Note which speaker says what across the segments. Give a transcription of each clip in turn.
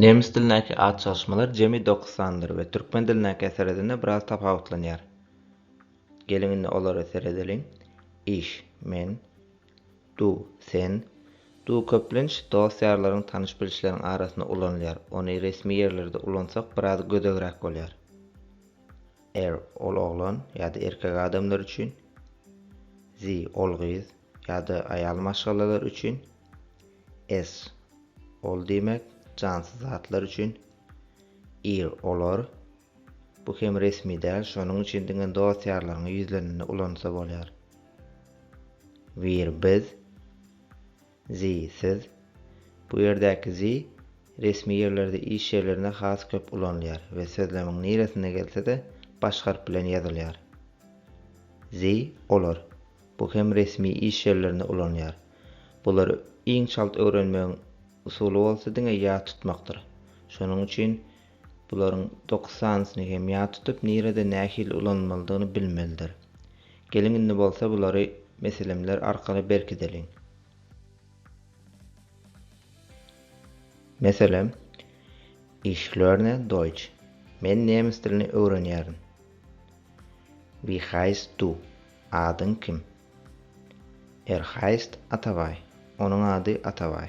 Speaker 1: Nemes dilindäki at çalyşmalar jemi dokuz sandyr we türkmen dilindäki eseredende biraz tapawutlanýar. Geliň indi olara seredeliň. Iş, men, du, sen, du köplenç dost-ýarlaryň, tanyş-bilişleriň arasynda ulanylýar, ony resmi ýerlerde ulansak biraz gödegräk bolýar. Er, ol oglan ýa-da erkek adamlar üçin. Zi, ol gyz ýa-da aýal maşgalalar üçin. S, ol diýmek, jansyz zatlar üçin. Ir, olar. Bu hem resmi däl, şonuň üçin diňe dost-ýarlaryňa ýüzlenende ulansa bolýar. Wir, biz. Zi, siz. Bu ýerdäki zi resmi ýerlerde iş ýerlerinde has köp ulanylýar we sözlemiň niresinde gelse-de baş harp bilen ýazylýar. Zi, olar. Bu hem resmi iş ýerlerinde ulanylýar. Bulary iň çalt öwrenmegiň usuly bolsa diňe ýat tutmakdyr. Şonuň üçin Bularyň dokuz sanysyny hem ýat tutup, nirede nähili ulanylmalydygyny bilmelidir. Geliň indi bolsa bulary meselemler arkaly berkideliň. Meselem, Ich lerne Deutsch. Men nemes dilini öwrenýärin. Wie heist du? Adyň kim? Er heist Atabaý. Onuň ady Atabaý.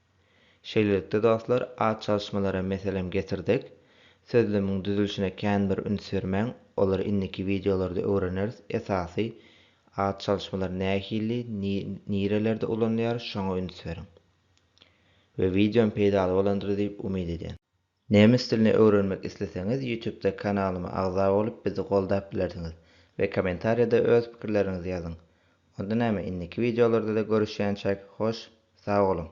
Speaker 1: Şeýlelikde, dostlar, at çalyşmalara meselem getirdik. Sözlemiň düzülişine kän bir üns bermäň, olary indiki wideolarda öwreneris, esasy, at çalyşmalar nähili, nirelerde ulanylýar, şoňa üns beriň. We wideom peýdaly bolandyr diýip umyt edýän. Nemes dilini öwrenmek isleseňiz ýutubda kanalyma agza bolup bizi goldap bilersiňiz we komentarýada öz pikirleriňizi ýazyň. Onda näme indiki wideolardada görüşýänçäk hoş sag boluň.